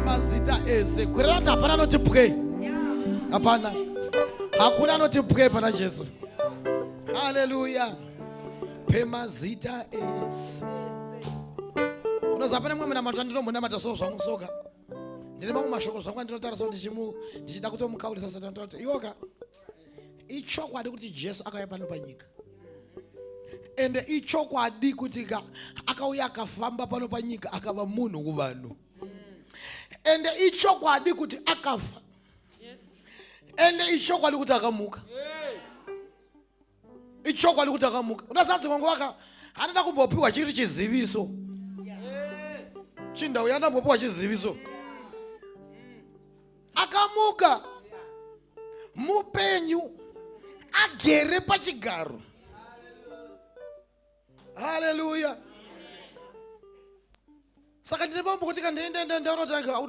mazita ese kwirira kuti hapana anoti pwei hapana hakuna anoti pwei pana jesu haleluya pemazita ese unoziva pane mumwe munamato andinombonamata so zvangu soka ndine mamwe mashoko zvangu andinotaura so ndichida kutomukaurisa satani tati iwoka ichokwadi kuti jesu akauya pano panyika ende ichokwadi kuti ka akauya akafamba pano panyika akava munhu kuvanhu ende ichokwadi kuti akafa ende ichokwadi kuti akamuka yeah. ichokwadi kuti akamuka unazanzi wangu waka anoda kumbopiwa chiri chiziviso chinda uya anoda kumbopiwa chiziviso akamuka mupenyu agere pachigaro haleluya saka ndine mambo kuti kandiendaenda ndaona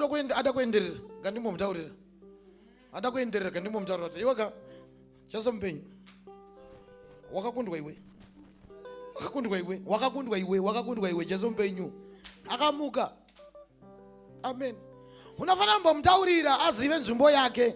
kuti ada kuenderera ngandimbomudaurira ada kuenderera ngandimbomudaurira kuti iweka chaso mupenyu wakakundwa iwe wakakundwa iwe wakakundwa iwe wakakundwa iwe jesu mupenyu akamuka amen unofanira kumbomudaurira azive nzvimbo yake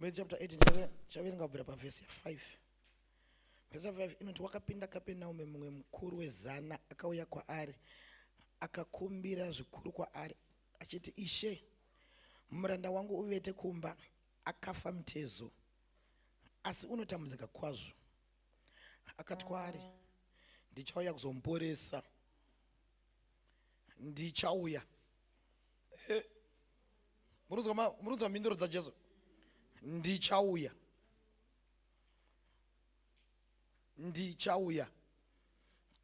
Matthew chapter 8 chaverenga kubvira pavhesi 5 vhesi 5 inoti wakapinda kapenaume mumwe mukuru wezana akauya kwaari akakumbira zvikuru kwaari achiti ishe muranda wangu uvete kumba akafa mutezo asi unotambudzika kwazvo akati kwaari ndichauya kuzomuporesa ndichauya eh, murunzwa mhinduro dzajesu ndichauya ndichauya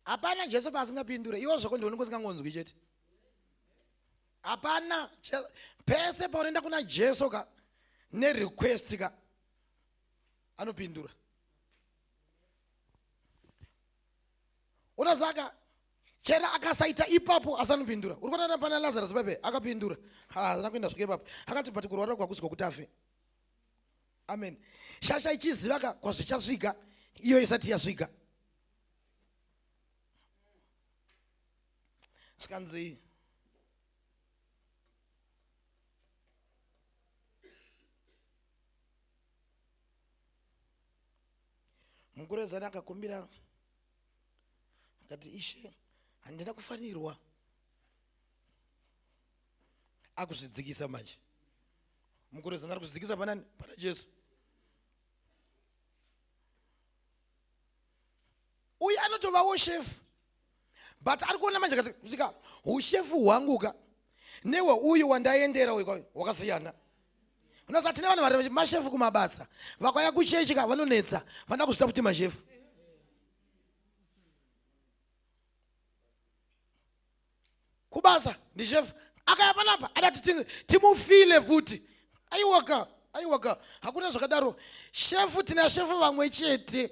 hapana jesu paasingapindure iwo zvako ndione kusingangonzwi chete hapana pese paunoenda kuna jesu ka nerequest ka anopindura ona saka chera akasaita ipapo asi anopindura uri kuona pana lazarus pepe akapindura haana kuenda zvake ipapo akati but kurwara kwakuzwa kuti afe amen shasha ichiziva ka kwazvichasvika iyo isati yasvika zvikanzi mukurezana akakumbira akati ishe handina kufanirwa akuzvidzikisa manje mukurezana ari kuzvidzikisa panani pana jesu uye anotovawo shefu but ari kuona manje katika ushefu hwangu ka newe uyu wandaendera uyu wakasiyana unosati ne vanhu vari mashefu kumabasa vakauya kuchechi ka vanonetsa vanoda kuzvita kuti mashefu kubasa ndishefu akaya panapa adati timufile futi aiwaka aiwaka hakuna zvakadaro shefu tina shefu vamwe chete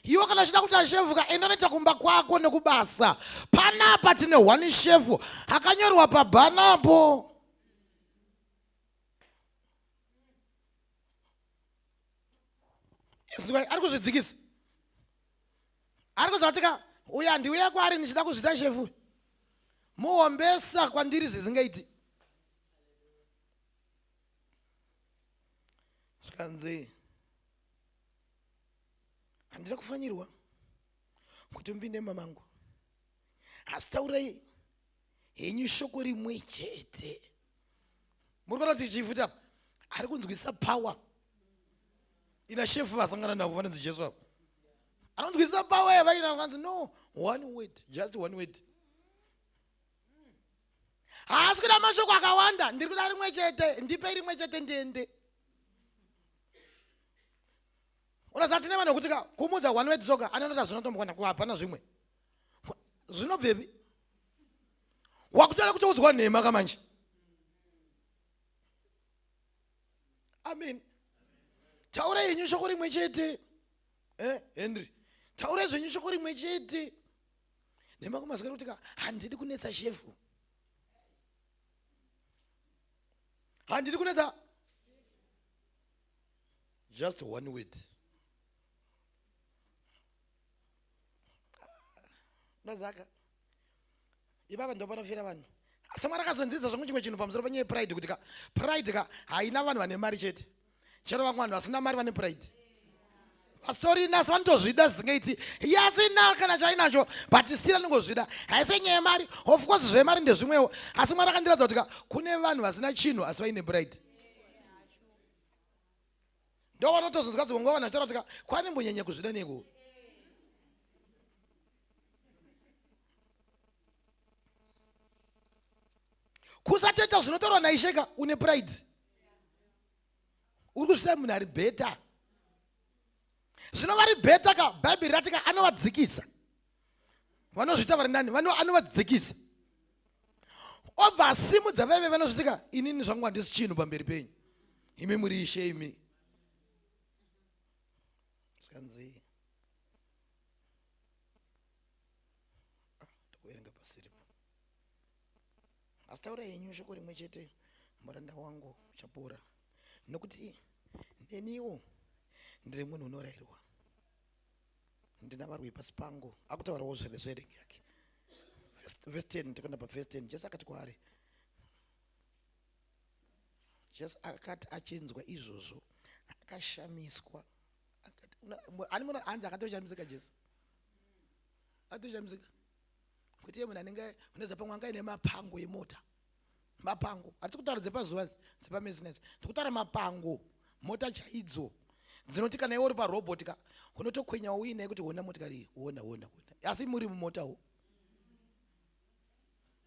iwe kana chida kuti ashefu ka enda noita kumba kwako nekubasa panapa tine one shefu akanyorwa pabhanapo ari kuzvidzikisa ari kuziva kuti ka uya ndiuya kwaari ndichida kuzvita shefu muhombesa kwandiri zvisingaiti zvikanzi handina kufanirwa kuti mupinde mamangu asi taurai henyu shoko rimwe chete muri kuona kuti chifuta ari kunzwisa power ina shefu vasangana navo vanonzi jesu avo anonzwisisa pawa yavaina vanzi no one word just one word haasi kuda mashoko akawanda ndiri kuda rimwe chete ndipe rimwe chete ndiende unasati ne vanhu vekuti ka kumudza one word soka anonota zvinotombokwana ku hapana zvimwe zvinobvepi wakutoda kutoudzwa nhema ka manje amen taura yenyu shoko rimwe chete eh, henry taura zvenyu shoko rimwe chete nemakumazwira kuti ka handidi kunetsa shefu handidi kunetsa just one word ndozaka ipapa ndo panofira vanhu asi mwari akazonziza zvangu chimwe chinhu pamusoro panyaya yepride kuti ka pride ka haina vanhu vane mari chete chero vamwe vanhu vasina mari vane pride pastori nasi vanotozvida zvisingaiti yasina kana chainacho but sira ningozvida haise nyaya yemari of course zvemari ndezvimwewo asi mwari akandiratidza kuti ka kune vanhu vasina chinhu asi vaine pride ndowanotozonzwa dzimwe nguva vanhu vachitaura kuti ka kwani mbonyanya kuzvida nekuwo kusatoita zvinotaurwa naisheka une pride uri kuzviita munhu ari bheta zvino vari bheta ka bhaibheri rati ka anovadzikisa vanozviita vari nani anovadzikisa obva asimudza vaive vanozviti ka inini zvangu handisi chinhu pamberi penyu imi muri ishe imi zvikanzii ndokuverenga pasiripo asi taura henyu shoko rimwe chete muranda wangu uchapora nokuti neniwo ndiri munhu unorairwa ndina varwi pasi pangu akutaurawo zvererengi yake vhesi 10 tikuenda pavhesi 10 jesu akati kwaari jesu akati achinzwa izvozvo akashamiswa ani munhu hanzi akatoshamisika jesu akatoshamisika kuti iye munhu anenge uneza pamwe anga ine mapango emota mapango hatisi kutaura dzepazuva dzepamesines tikutaura mapango mota chaidzo dzinoti kana iwe uri parobot ka unotokwenya uine kuti hona motikari hona hona hona asi muri mumotawo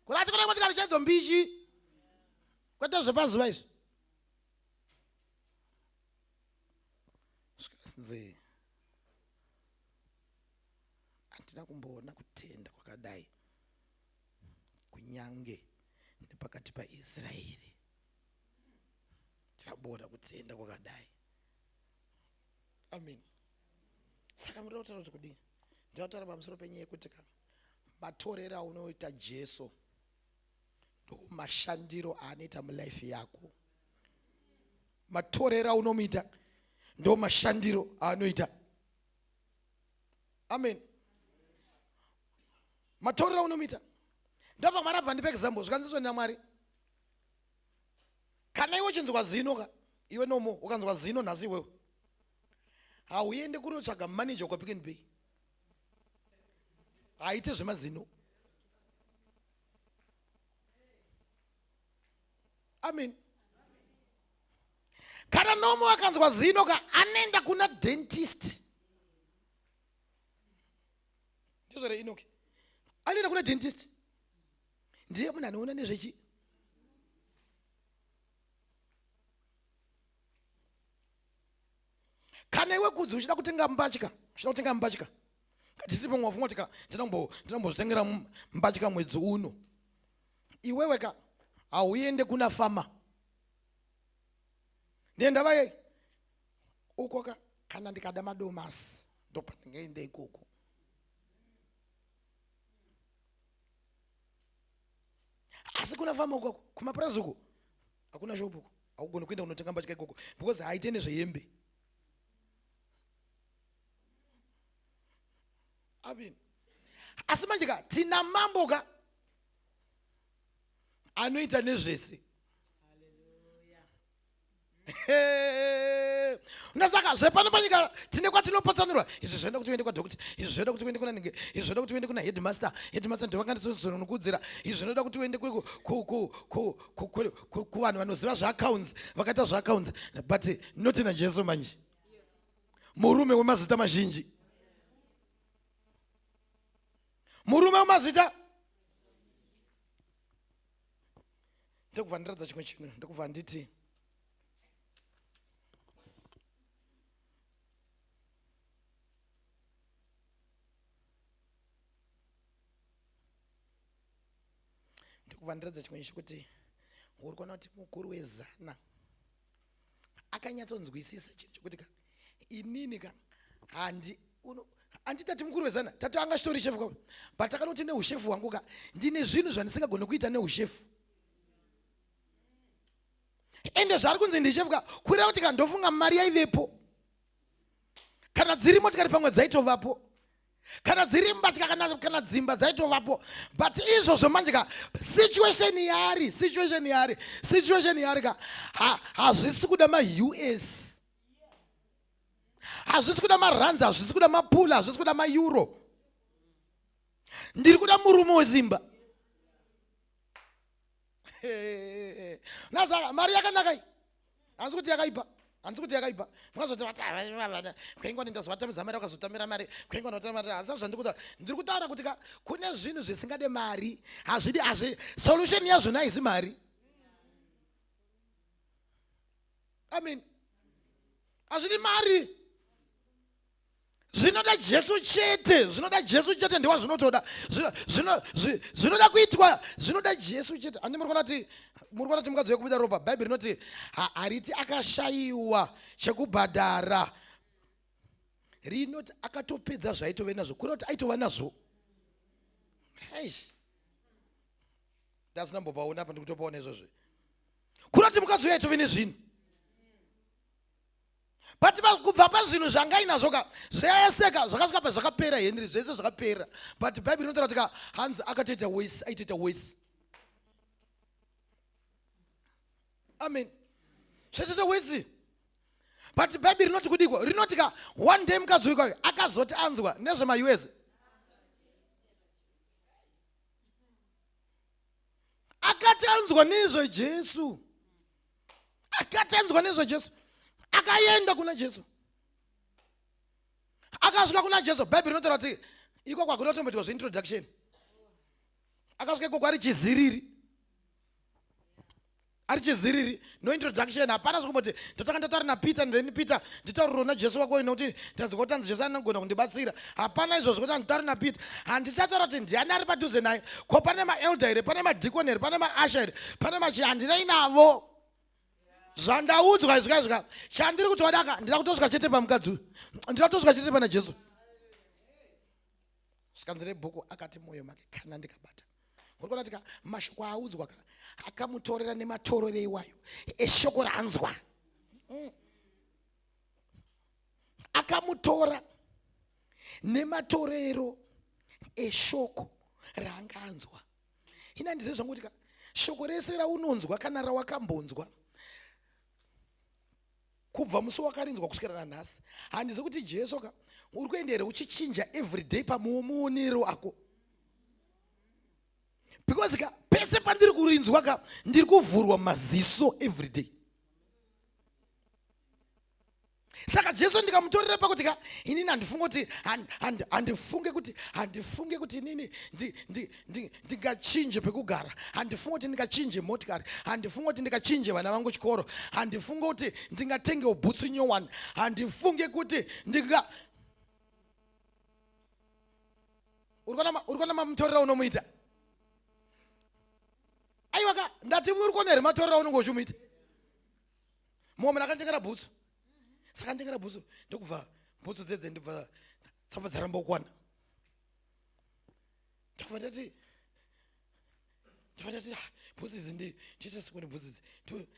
kuti atikona motikari chaidzo mbishi kwete zvepazuva izvi zvikanzi handina kumboona kutenda kwakadai kunyange nepakati paisraeri tiraboda kutenda kwakadai amen saka muda kutaura kuti kudii ndida kutaura pamusoro penyaya yekuti ka matorero aunoita jesu ndomashandiro aanoita mulife yako matorero aunomuita ndo mashandiro aanoita amen matorero aunomuita ndabva mwana bva ndipe example zvikanziswa nina mwari kana iwe uchinzwa zino ka iwe nomo ukanzwa zino nhasi iwewe hauende kunotsvaga manager ukapick and bay haite zvemazino amen kana nomwe akanzwa zino ka anoenda kuna dentist ndizvore inoki anoenda kuna dentist ndiye munhu anoona nezvechi kana iwe kudzi uchida kutenga mbatya uchida kutenga mbatya tisipo mwafunga kuti ka ndinombozvitengera mbatya mwedzi uno iwewe ka hauende kuna fama ndendava yei uko ka kana ndikada madomasi ndopandingaenda ikoko asi kuna fama ukoko kumapurazi uko hakuna shopu uko haugoni kuenda kunotenga mbatya ikoko because haite nezvehembe amini asi manje ka tina mambo ka anoita nezvese ndasaka zvepano panyika tine kwatinopatsanurwa izvi zvoenda kuti uende kwadokta izvi zvoenda kuti uende kunanenge izvi zvoenda kuti uende kuna headmaster headmaster ndovakandisononokuddzira izvi zvinoda kuti uende kuvanhu vanoziva zveaccounts vakaita zveaccounts but not najesu manje murume wemazita mazhinji murume wemazita ndokubva ndiratidza chimwe chinhu ndokubva nditi ndokubva ndiratidza chimwe chekuti uri kuona kuti mukuru wezana akanyatsonzwisisa chinhu chokuti ka inini ka handi andi tati mukuru wezana tati anga chitori shefu ka but akanoti neushefu hwangu ka ndine zvinhu zvandisingagone kuita neushefu ende zvaari kunzi ndishefu ka kureva kuti ka ndofunga mari yaivepo kana dziri motikari pamwe dzaitovapo kana dziri mbatya kana, kana dzimba dzaitovapo but izvozvo manje ka situation yaari situation yaari situation yaari ka hazvisi ha, kuda maus hazvisi kuda maranzi hazvisi kuda mapula hazvisi kuda maeuro ndiri kuda murume wezimba nazara mari yakanaka iyi hanzi kuti yakaipa hanzi kuti yakaipa mwazotivatavana kwenga ndindazovatamidza mari vakazotamira mari kwenga ndotamira hanzi zvandikuta ndiri kutaura kuti ka kune zvinhu zvisingade mari hazvidi hazvi solution yazvona haizi mari amen hazvidi mari zvinoda jesu chete zvinoda jesu chete ndiwa zvinotoda zvinoda kuitwa zvinoda jesu chete handi muri kuona ti muri kuona ti mukadzi wekubuda ropa bhaibheri rinoti hariti akashayiwa chekubhadhara rinoti akatopedza zvaitove nazvo kuri kuti aitova nazvo eish ndasina mbopaona apa ndikutopaona izvozvi kuri kuti mukadzi uyo aitove nezvinhu but kubva pazvinhu zvangainazvo ka zvayaseka zvakasvika pa zvakapera henry zvese zvakapera but bhaibheri rinotaura kuti ka hanzi akatoita wese aitoita wese amen zvatoita wese but bhaibheri rinoti kudikwa rinoti ka one day mukadzi wikwayo akazoti anzwa nezvemaus akatanzwa nezvejesu akatanzwa nezvajesu akaenda kuna jesu akasvika kuna jesu bhaibheri rinotaura kuti iko kwakona tomboitwa zveintroduction akasvika ikoko ari chiziriri ari chiziriri no introduction hapana zvekumboti ndotanga ndataura napeter ndeni peter nditauriro najesu wako ine kuti ndanzwa kutanzi jesu anogona kundibatsira hapana izvozvo kuti handitauri nabit handichataura kuti ndiani ari padhuze naye ko pane maelda here pane madhikoni here pane maasha here pane machi handinei navo zvandaudzwa izvika izvika chandiri kuti wadaka ndira kutosvika chete pamukadzi uyu ndira kutosvika chete pana jesu zvikanzi rebhuku akati mwoyo make kana ndikabata uri kuona tika mashoko aaudzwa ka akamutorera nematorero iwayo eshoko ranzwa mm. akamutora nematorero eshoko raanga anzwa ina ndize zvangu kuti ka shoko rese raunonzwa kana rawakambonzwa kubva musi wakarinzwa kusvikira nanhasi handizi kuti jesu ka uri kuenda here uchichinja everyday pamuonero ako because ka pese pandiri kurinzwa ka ndiri kuvhurwa maziso everyday saka jesu ndikamutorera pakuti ka inini handifunge kuti handifunge kuti handifunge kuti inini ndingachinje pekugara handifunge kuti ndingachinje motikari handifunge kuti ndingachinje vana vangu chikoro handifunge kuti ndingatengewo bhutsu nyowani handifunge kuti ndinga uri kuona mamutorera unomuita aiwa ka ndati uri kuona here matorera unenge uchimuita mumwe munhu akanditengera bhutsu saka nditengera bhutsu ndokubva bhutsu dzedze ndibva tsamba dzaramba kukwana ndakubva ndati ndakubva ndati ah, bhutsu idzi ndichete sikoni bhutsu idzi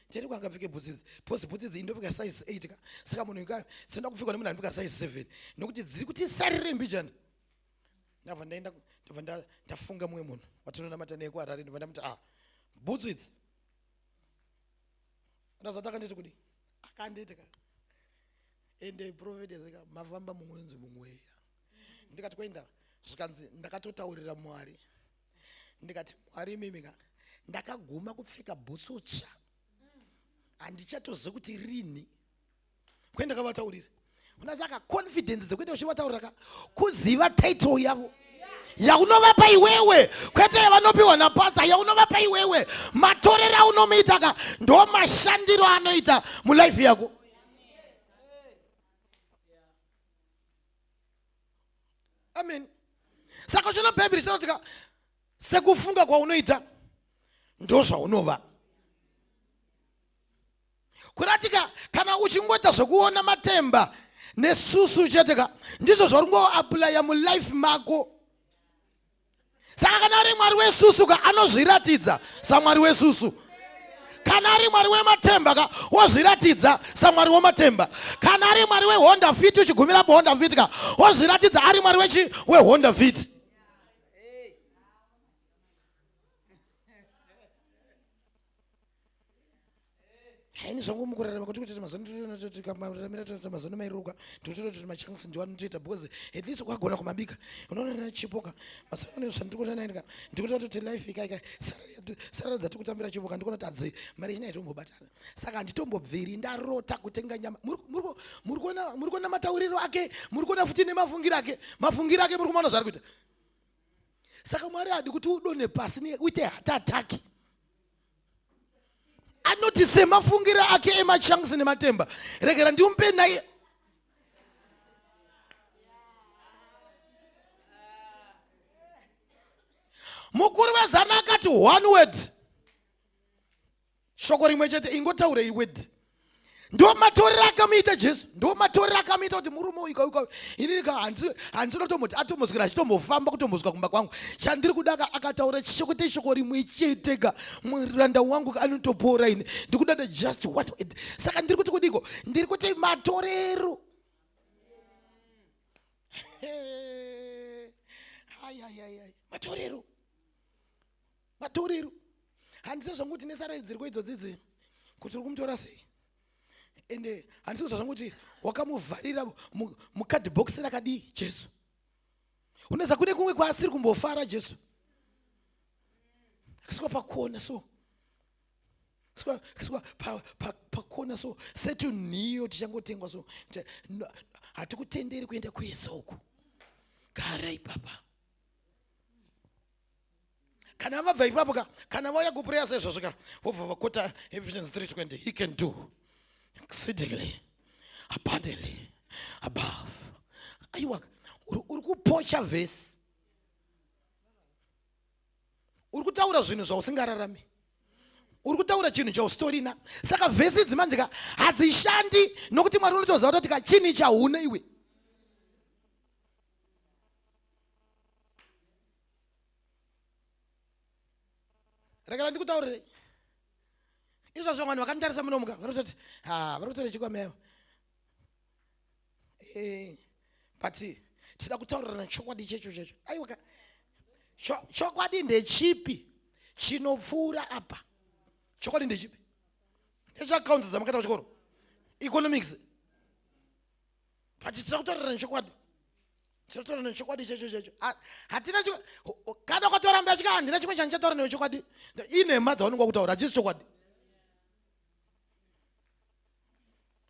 ndiani kwanga pfeke bhutsu idzi bhozi bhutsu idzi indopfeka size eight ka saka munhu ka senda kupfekwa nemunhu anopfeka size seven nokuti dziri kuti sarire mbijana ndabva ndaenda ndabva ndafunga mumwe munhu watinonamata neku harare ndibva ndamuti ah bhutsu idzi ndazati akanditi kudii akanditi ka ende prophetess ka mafamba mumwenzi mumweya ndikati kwenda zvikanzi ndakatotaurira mwari ndikati mwari imimi ka ndakaguma kupfeka bhutsu tsva handichatozivi kuti rini kwai ndakavataurira kuna saka confidence dzekuenda uchivataurira ka kuziva title yavo yaunovapa iwewe kwete yavanopiwa napasta yaunovapa iwewe matorero aunomuita ka ndo mashandiro anoita mulife yako amen saka chino bhaibheri chinoti ka sekufunga kwaunoita ndozvaunova kuratika kana uchingoita zvekuona matemba nesusu chete ka ndizvo zvauri ngoapulaya mulife mako saka kana ari mwari wesusu ka anozviratidza samwari wesusu kana ari mwari wematemba ka wozviratidza samwari wematemba kana ari mwari wehonda fit uchigumira muhonda fit ka wozviratidza ari mwari wechi wehonda fit haini zvangu mukurarama kuti kuti mazonotikamira toita mazono mairuka totota kuti machansi ndiwani toita because at least ukagona kumabika unoona na chipoka masono ne zvandiri kuona naye ndikuti kuti life ikai kai sarara dzati kutambira chipoka ndikuona tadzi mari ina ito mbobatana saka nditombobviri ndarota kutenga nyama muri muri kuona muri kuona matauriro ake muri kuona futi nemafungiro ake mafungiro ake muri kuona zvari kuita saka mwari adi kuti udone pasi ne uite hatati anoti semafungire ake emachunks nematemba regera ndimupe naye mukuru wezana akati one word shoko rimwe chete ingotaurei word ndo matorero akamuita jesu ndo matorero akamuita kuti murume uyu kauka inini ka handisina kutomboti atomboswera achitombofamba kutombosvika kumba kwangu chandiri kuda ka akataura chishoko teshoko rimwe chete ka muranda wangu ka anotopora ini ndikudada just one word saka ndiri kuti kudiko ndiri kuti matorero matorero vatorero handiziva zvangu kuti nesaraidzirwo idzodzi dzi kuti uri kumutora sei ende handiziva zvangu kuti wakamuvharira mukadhibhokisi rakadii jesu uneza kune kumwe kwaasiri kumbofara jesu akasvika pakuona so pakona so setunhiyo tichangotengwa so hatikutenderi kuenda kuisa uku gara ipapa kana vabva ipapo ka kana vauya kupureya saizvozvo ka vobva vakota ephesians 320 he can do exceedingly abundantly above aiwa uri kupocha vhesi uri kutaura zvinhu zvausingararami uri kutaura chinhu chausitorina saka vhesi idzi manje ka hadzishandi nokuti mwari unotoziva kutoti ka chini chahune iwe rekera ndikutaurirei izvozvo vanhu vakanditarisa muno muka vari kutoti ha vari kutora chikwameva eh, but tida kutaurirana chokwadi checho checho aiwa chokwadi ndechipi chinopfuura apa chokwadi ndechipi ndechakaunzi dzamakata kuchikoro economics but tiri kutaurira nechokwadi tiri kutaurira nechokwadi checho checho hatina kana kwataura mba yachika handina chimwe chandichataura newe chokwadi inhema dzaunenge wakutaura hachisi chokwadi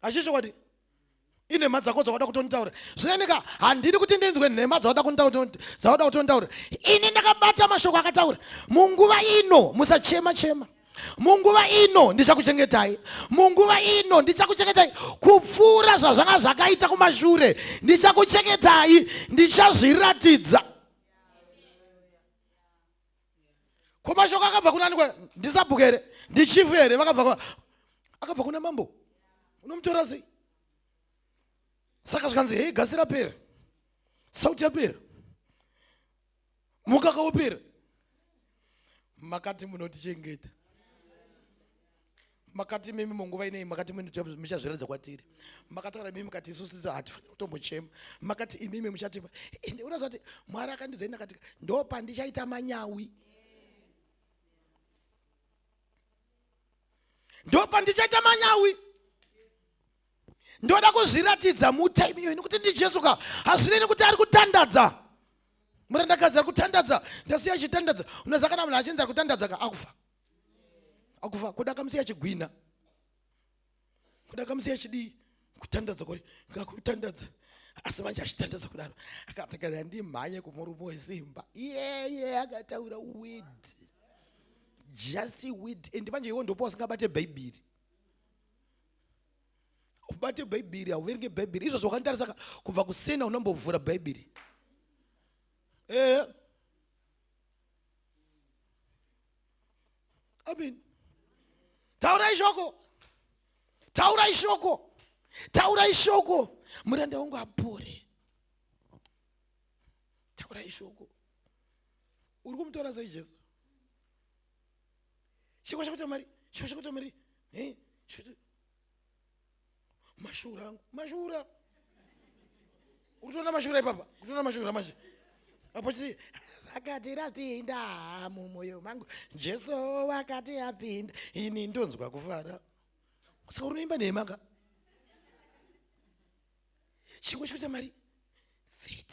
hachisi chokwadi inhema dzako dzawada kutonditaura zvinoeneka handidi kuti ndinzwe nhema dzawada kutonditaura ini ndakabata mashoko akataura munguva ino musachema chema, chema. munguva ino ndichakuchengetai munguva ino ndichakuchengetai kupfuura zvazvanga zvakaita kumashure ndichakuchengetai ndichazviratidza ko mashoko akabva kunani kwa ndisabhuku here ndichifu here vakabva akabva kuna mambo unomutora sei saka zvikanzi hei gasi rapera sauti yapera mukaka upera makati munotichengeta makati mimi munguva inei makati muchazviratidza kwatiri makataura mimi kati isusu hatifanira kutombochema makati imimi muchatipa ende unoziva kuti mwari akandiudza ini akatika ndo pandichaita manyawi ndo pandichaita manyawi ndoda kuzviratidza mutime iyoyi nekuti ndijesu ka hazvinei nekuti ari kutandadza murandakadzi ari kutandadza ndasiya achitandadza unoziva kana munhu achinzi ari kutandadza ka akufa akufa kuda kamusiya achigwina kuda kamusiya achidii kutandadza kwacho ngakutandadza asi manje achitandadza kudaro akatakana ndimhanye kumurume wesimba iyeye akataura wid just wid and manje iwo ndopo wasingabate bhaibhiri ubate bhaibheri hauverenge bhaibheri izvo zvakanditarisa ka kubva kusena unambovhura bhaibheri ehe amen taurai shoko taurai shoko taurai shoko muranda wangu apore taurai shoko uri kumutaura sei jesu chikwa chakuita mari chikwa chakuita mari eh, mashura angu mashura uritoona mashura ipapa uritoona mashura manje apo chii rakati rapinda mumoyo mangu jesu wakati apinda ini ndonzwa kufara saka unoimba nemaka chikwa chakuita mari fit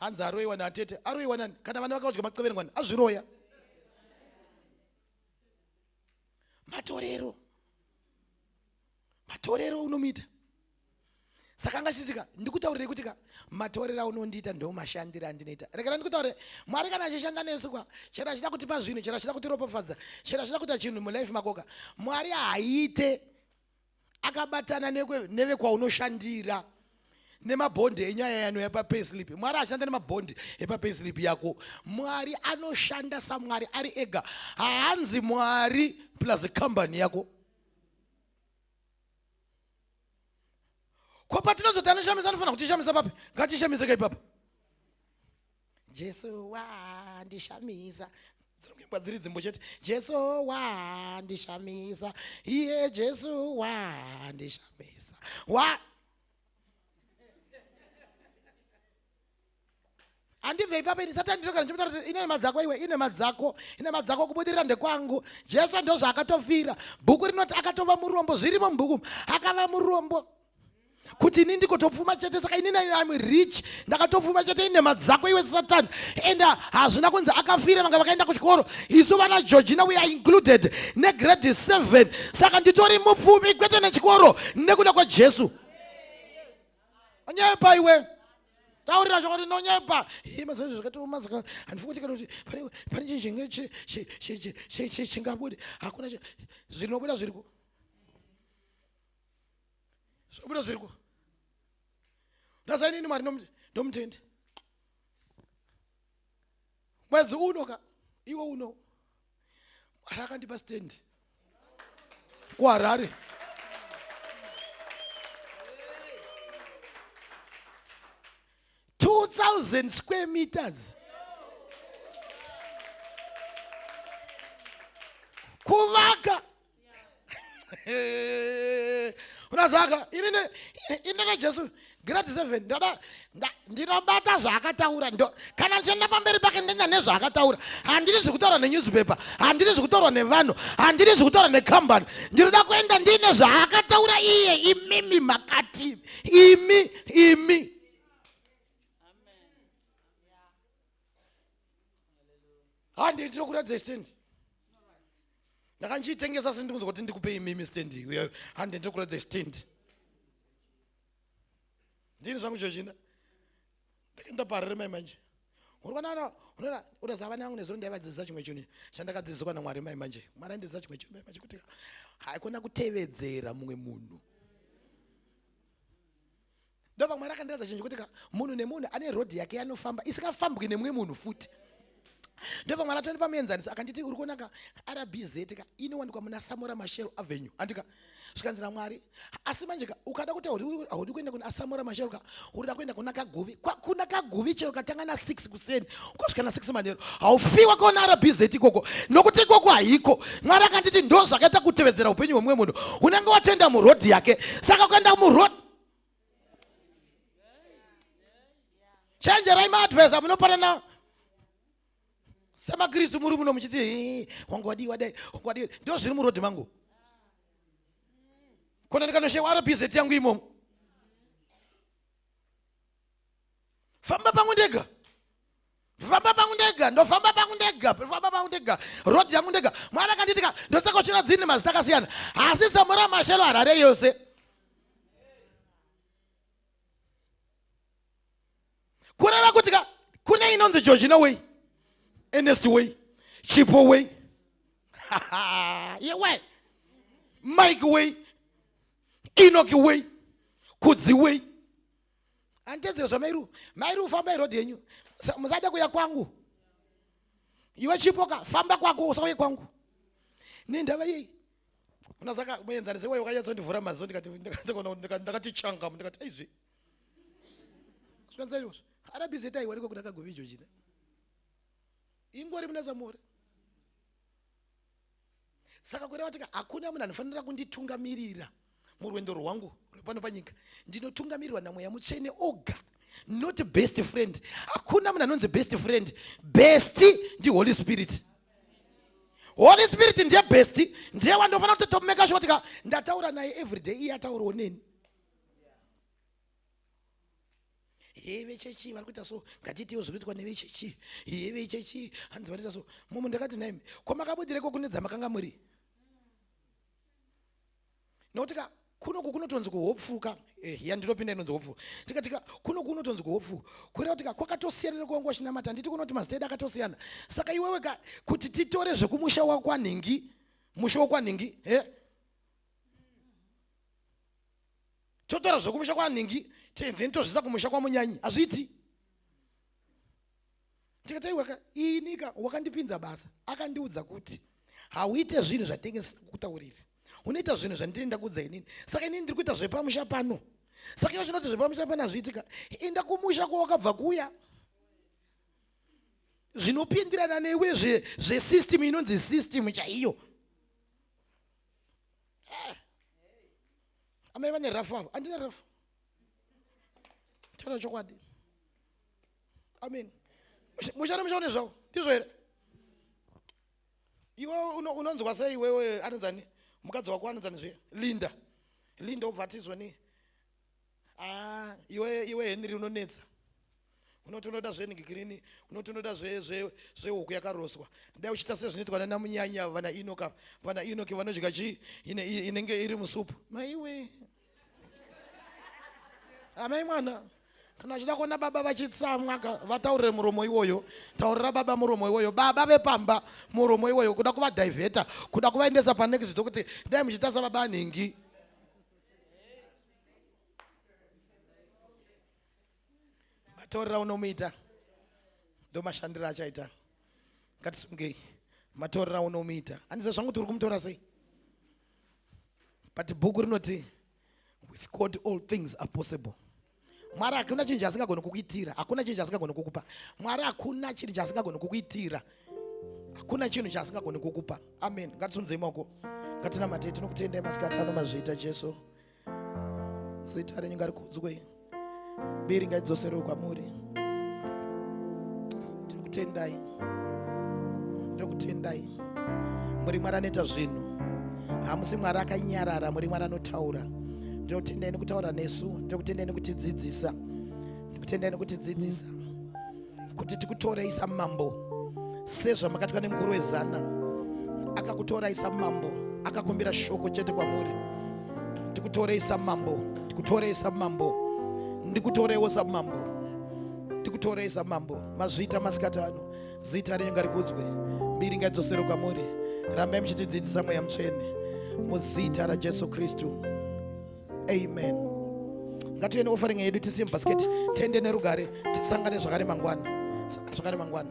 hanzi aroiwa naatete aroiwa nani kana vana vakaudya maceverengwani azviroya matorero matorero unomuita saka anga chiitika ndikutaurire kuti ka matorero aunondiita ndomashandira andinoita rekera ndikutaurire mwari kana achishanda nesu kwa chero achida kutipa zvinhu chero achida kutiropafadza chero achida kuita chinhu mulife makoka mwari haaite akabatana nevekwaunoshandira nemabhondi enyaya yano yepapayslip mwari ashanda nemabhondi epapayslip yako mwari anoshanda samwari ari ega haanzi mwari plus kambani yako ko patinozoti anoshamisa anofanira kutishamisa papi ngatishamise ka ipapa jesu wandishamisa dzinokuimbwa dziri dzimbo chete jesu wandishamisa iye jesu wandishamisa wa handibve ipapo ini satani ndinogara ndichimutaura kuti ine nema dzako iwe ine madzako ine madzako kubudirira ndekwangu jesu ndozvaakatofira bhuku rinoti akatova murombo zvirimo mubhuku akava murombo kuti ini ndikotopfuma chete saka ini am rich ndakatopfuma chete ine madzako iwe satani and uh, hazvina kunzi akafira vanga vakaenda kuchikoro isu vana georgina we are included negrade 7 saka nditori mupfumi kwete nechikoro nekuda kwajesu onyepa iwe taurira chokwadi ndonyepa mazvazvo zvakatioma saka handifungi kuti kana kuti pane chinhu chinge chingabude hakuna zvinobuda zviriko zvobuda zviriko ndasainini mwari ndomutenda mwedzi uno ka iwo uno mwari akandipa stand kuharare two thousand square meters kuvaka unazaka ini najesu grade seven ndoda ndinobata zvaakataura kana ndichienda pamberi pake ndenda nezvaakataura handiri zvekutaura nenewspaper handiri zvekutaurwa nevanhu handiri zvekutaura necompany ndinoda kuenda ndiine zvaakataura iye imimi makati imi imi handi ndinokuratidza chitendi ndakandichitengesa asi ndikunzwa kuti ndikupe imimi stand handi ndiri kuratidza stand ndini zvangu chochina ndakaenda parere mai manje urikwanana unoona unoziva vana vangu nezuro ndaivadzidzisa chimwe chuni chandakadzidziswa namwari mai manje mwari andidzidzisa chimwe chuni mai manje kuti haikona kutevedzera mumwe munhu ndobva mwari akandiratidza chinhu chekuti ka munhu nemunhu ane rodhi yake yanofamba isingafambwi nemumwe munhu futi ndobva mwari atondipa muenzaniso akanditi uri kuona ka rbz ka inowanikwa muna samora mashel avenue andika zvikanzi namwari asi manje ka ukada kuti haudi kuenda kuna samora mashel ka urida kuenda kuna kaguvi kuna kaguvi chero katanga na six kuseni ukasvika na six manero haufiwa kaona rbz ikoko nokuti ikoko haiko mwari akanditi ndo zvakaita kutevedzera upenyu hwemumwe munhu unenge watenda murodhi yake saka ukaenda murodhi chenjerai maadvesa munopanana semakristu muri muno muchiti wangu wadii wadai wangu wadii ndo zviri murodhi mangu kona ndikanoshewa rbz yangu imomo famba pangu ndega ndofamba pangu ndega ndofamba pangu ndega ndofamba pangu ndega rod yangu ndega mwana akanditika ndosakochera dzini mazita akasiyana asi zambo ramashelo harare yose kureva kuti ka kune inonzi georgina way enest way chipo way yewe mike way inoki way kudzi way anditedzera zvamairu mairu famba iroad yenyu musada kuya kwangu iwe chipoka famba kwako usauye kwangu nendava yei kuna saka muenzanise wai wakanyatsondivhura maziso ndikati changa ndikati aizve zvikanzaiwo arabizeta iwe ariko kudakagovijo china ingori muna samore saka kureva kuti hakuna munhu anofanira kunditungamirira murwendo rwangu rwepano panyika ndinotungamirirwa namweya mutsvene oga not best friend hakuna munhu anonzi best friend best ndi holy spirit holy spirit ndiye best ndiye wandofanira kutotomeka shuwa tika ndataura naye every day iye ataurawo neni hee vechechi vari kuita so ngatiitewo zviri kuitwa nevechechi hee vechechi hanzi vanoita so mumwe ndakati naimi kwamakabudireko kune dzamakanga muri nokuti ka kunoku kunotonzi kuhopfuka eh, ya ndinopinda inonzi hopfu tikatika kunoku kunotonzi kuhopfu kureva kuti ka kwakatosiyana nekuwanga wachinamata handiti kunoti mazita edu akatosiyana saka iwewe ka kuti titore zvekumusha wakwanhingi musha wakwanhingi he eh? totora zvekumusha kwanhingi then tozvisa kumusha kwamunyanyi hazviiti ndikataiwaka inika wakandipinza basa akandiudza kuti hauite zvinhu zvandinenge ndisina kukutaurira unoita zvinhu zvandiri ndakuudza inini saka inini ndiri kuita zvepamusha pano saka ivo zvinoti zvepamusha pano hazviitika inda kumusha kwawakabva kuya zvinopindirana newe zvesystem inonzi system chaiyo eh. amai vane rafu avo andina rafu taura chokwadi amen mushana mushaone zvavo ndizvo here iwe unonzwa sei iwewe anonzani mukadzi wako anonzani zviya linda linda obva atizwa nei ah, iwe iwe henry unonetsa unoti unoda zvenigrini unoti unoda zvehuku yakaroswa dai uchiita sezvinoitwa nana munyanya vana inoka vana inoki vanodya chii inenge iri musupu maiwe amai mwana kana achida kuona baba vachitsamwa ka vataurire muromo iwoyo taurira baba muromo iwoyo baba vepamba muromo iwoyo kuda kuvadhivheta kuda kuvaendesa panext kuti dai muchiita sababa anhingi matorera unomuita ndomashandiro achaita ngatisungei matorera unomuita andiza zvangu kuti uri kumutora sei but bhuku rinoti with god all things are possible mwari hakuna chinhu chaasingagoni kukuitira hakuna chinhu chaasingagoni kukupa mwari hakuna chinhu chaasingagoni kukuitira hakuna chinhu chaasingagoni kukupa amen ngatisunzei maoko ngatinamatei tinokutendai masikati ano mazviita jesu zita renyu ngarikudzwe mbiri ngaidzoserewo kwamuri tiri kutendai ndokutendai muri mwari anoita zvinhu hamusi mwari akanyarara muri mwari anotaura ndinokutendai nekutaura nesu ndinokutendai nekutidzidzisa ndikutendai nekutidzidzisa kuti tikutorai samambo sezvamakatwa nemukuru wezana akakutorai samambo akakumbira shoko chete kwamuri tikutorei samambo tikutorei samambo ndikutoreiwo samambo ndikutorei zamambo mazvita masikati ano zita renyu ngarikudzwe mbiri ngaidzosere kwamuri rambai muchitidzidzisa mweya mutsvene muzita rajesu kristu amen ngatiende offering yedu tisiye mubhasiketi tende nerugare tisangane zvakare mangwana zvakare mangwana